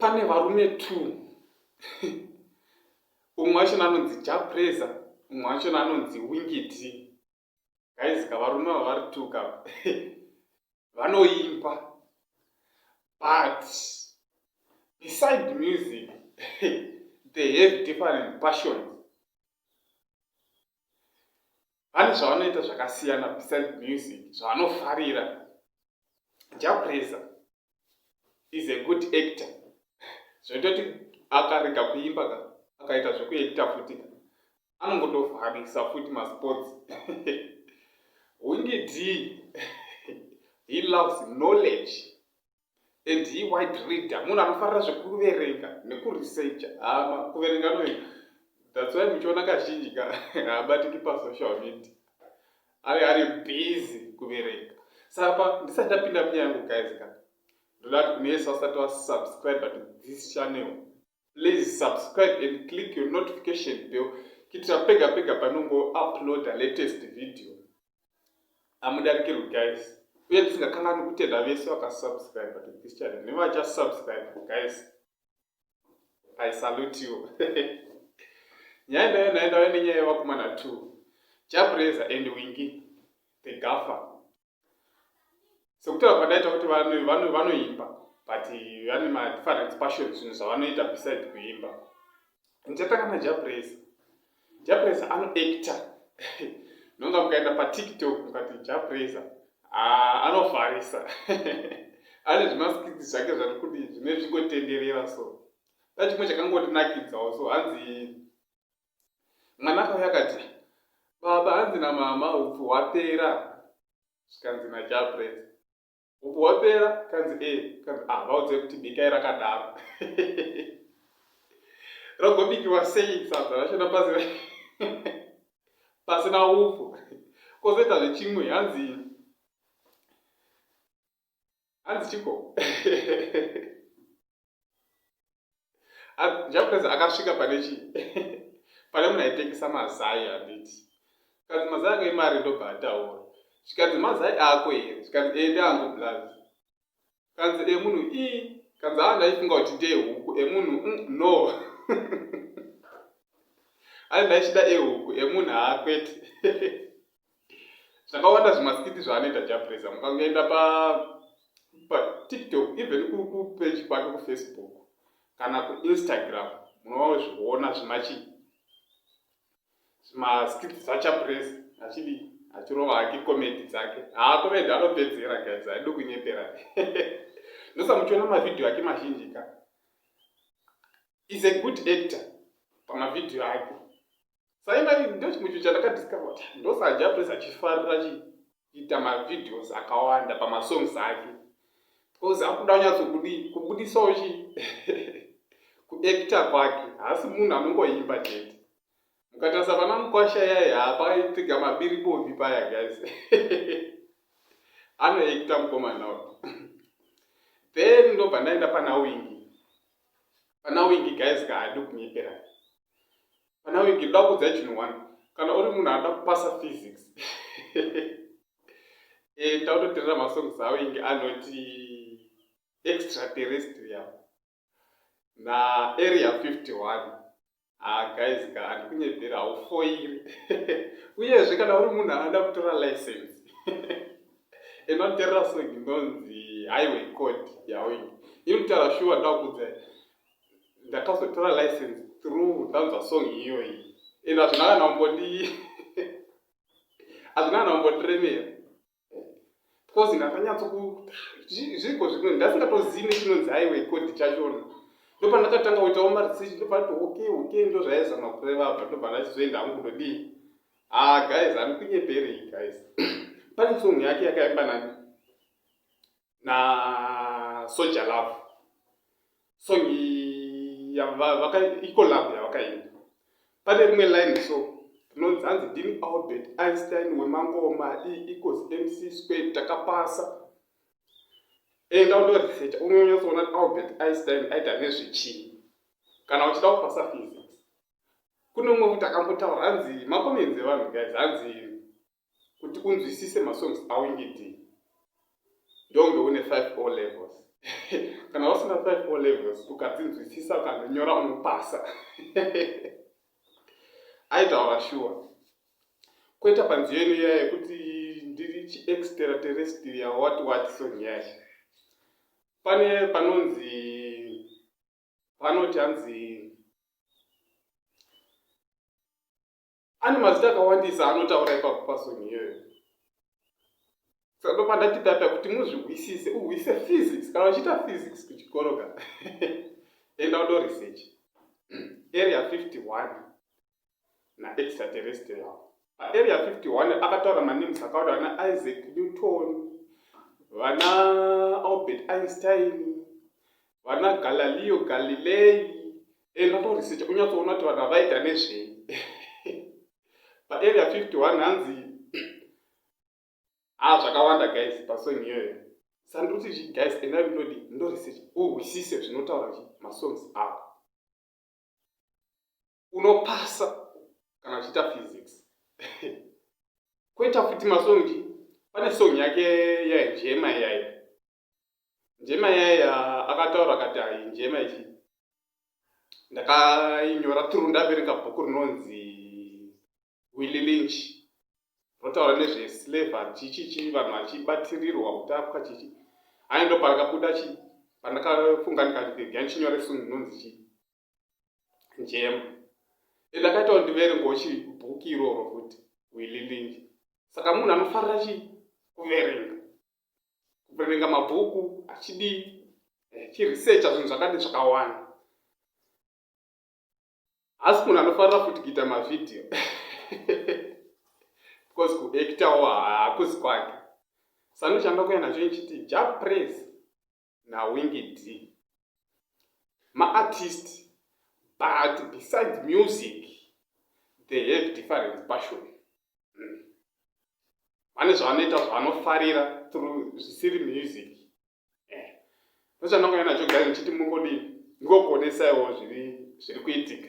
pane varume two umwe wachona anonzi japresa umwe wachona anonzi wingiti gaizika varume ava vari two ka vanoimba but beside music they have different passions vane zvavanoita zvakasiyana besides music zvavanofarira japresa is a good actor zvinoita kuti akarega kuimba ka akaita zvekuacta futi ka anongotovharisa futi masports wingidi he loves knowledge and he wide reader munhu anofarira zvekuverenga nekuresearcha hama kuverenga anoverenga that's why muchiona kazhinji ka haabatiki pasocial media ave ari busy kuverenga saka ndisati ndapinda munyaya yangu guys ka ndoda kuti kune yesu asati wasubscribe to this channel please subscribe and click your notification bell kitira pega pega panongo uploada latest video amudarikirwi guys uye tisingakanani kutenda vese vakasubscribe to this channel nevachasubscribe guys i salute you nyaya ndayo nayo ndayo nenyaya yevakomana two jabreza and wingi the gaffa sekutaura kwandaita kuti vanoimba but vane madifference passion zvinhu zvavanoita beside kuimba ndichatanga najapres japres anoacta nonga mukaenda patiktok mukati japres ah, anofarisa ane zvimaskiti zvake zvati kuti zvine zvingotenderera so ndachimwe chakangondinakidzawo so hanzi Mwana akauya akati, Baba, hanzi namama hupfu hwapera. Zvikanzi naChapress, Hupfu hwapera? Kanzi e, eh, kanzi ah, vaudze kuti bikai rakadaro. Rogobikiwa sei sadza racho napasina pasina hupfu? Kozoita zvechimwe hanzi hanzi chiko njakuratidza akasvika pane chii pane munhu aitengesa mazai handiti zvikanzi mazai ako imari ndobva ataura zvikanzi mazai ako here zvikanzi ende angu blood kanzi emunhu i kanzi aa ndaifunga kuti ndeehuku emunhu mm, no ai ndaichida ehuku emunhu haakwete zvakawanda zvimaskiti zvaanoita japresa mukangoenda pa patiktok even kupage kwake kufacebook kana kuinstagram munovawo zviona zvimachi zvimaskiti zvachapresa achidi achirova hake komedi dzake haakomedi anopedzera guys aidi kunyepera ndosamuchiona mavhidhiyo ake mazhinji ka is a good actor pamavhidhiyo ake saimai ndochimwe chinhu chandakadiscover kuti ndosajapres achifarira chiita mavideos akawanda pamasongs ake bcause akuda kunyatsokudii kubudisawo chi kuacta kwake haasi munhu anongoimba chete mukatarisa vana mukwasha yaye hapaitika mabiri bovi paya guys anoacta mukomana then ndobva ndaenda pana wingi pana wingi guys kaadi kunyeperana Panawe ndinoda kukudzai chinhu one. Kana uri munhu anoda kupasa physics. Eh tautoterera masongs awo inge anoti extraterrestrial na area 51. Ah guys ka andikunyebera haufoiri. Uyezve kana uri munhu anoda kutora license. Inoterera song inonzi highway code yawo inge. Inotara shuwa ndakukudzai. ndakazotora license through ndanzwa song iyoyi and hazvina kana umbondi hazvina kana umbondiremera because ndakanyatso zviriko zvino ndasingatozivi nechinonzi aiwe kodi chachona ndopa ndakatanga kuitawo maresearch ndopa nditi okay okay ndo zvaizama kureva apa ndopa ndachizoenda hangu kudodii ah guys andikunyeperei guys pane song yake yakaimba nani nasoja love song icolab yavakaimba pane rimwe line so rinonzi hanzi ndini albert einstein wemangoma eecos mc square takapasa enda undoresecha unonyatsoona kuti albert einstein aita nezvechii kana uchida kupasa physics kune umwe kuti akambotaura hanzi makomenzi evanhu guys hanzi kuti unzwisise masongs awingidii ndonge une 5 o levels kana usina 5 o levels ukadzinzwisisa ukandonyora unopasa aitaura shuwa kweta panziyo ino iya yekuti ndiri chiextera terestria wati wati song yacho pane panonzi panoti hanzi ane mazita akawandisa anotaura ipapo pasoni iyoyo sandopa ndati data kuti muzvihwisise uhwise physics kana uchiita physics kuchikoro ka enda udo research area 51 naextraterrestrial paarea 51 akataura manems akaura vana isaac newton vana albert einstein vana galaleo galilei enda utorisecha unyatsoona kuti vanhu havaita nezvei paarea 51 hanzi ha ah, zvakawanda guys pasong iyoyo sandikuti zvi guys enda ndodi ndorisecha uhwisise zvinotaura zvi masongs avo unopasa kana uchiita physics kweta futi masongi pane song yake yaijema iyayo Njema yaye akataura akati hai njema ichi ndakainyora through ndaverenga bhuku rinonzi Willy Lynch rotaura nezve slavery chichichi vanhu vachibatirirwa kutapwa chichi ayi ndo parakabuda chi pandakafunga ndikati ndichinyore song inonzi chii njema and akaitawo ndiverengawo chibhuki iroro futi wililinji saka munhu anofarira chii kuverenga kuverenga mabhuku achidii eh, chiresearcha zvinhu zvakati zvakawanda haasi munhu anofarira futi kuita mavhidhiyo because kuektawo hakusi kwake sano chandakuya nacho ichiti ja praise nawingi d maartist but besides music they have different passion hmm. vane zvavanoita zvavanofarira through zvisiri music eh. ndochandongoya nacho gari ndichiti mungodii ndikokuonesaiwo zviri kuitika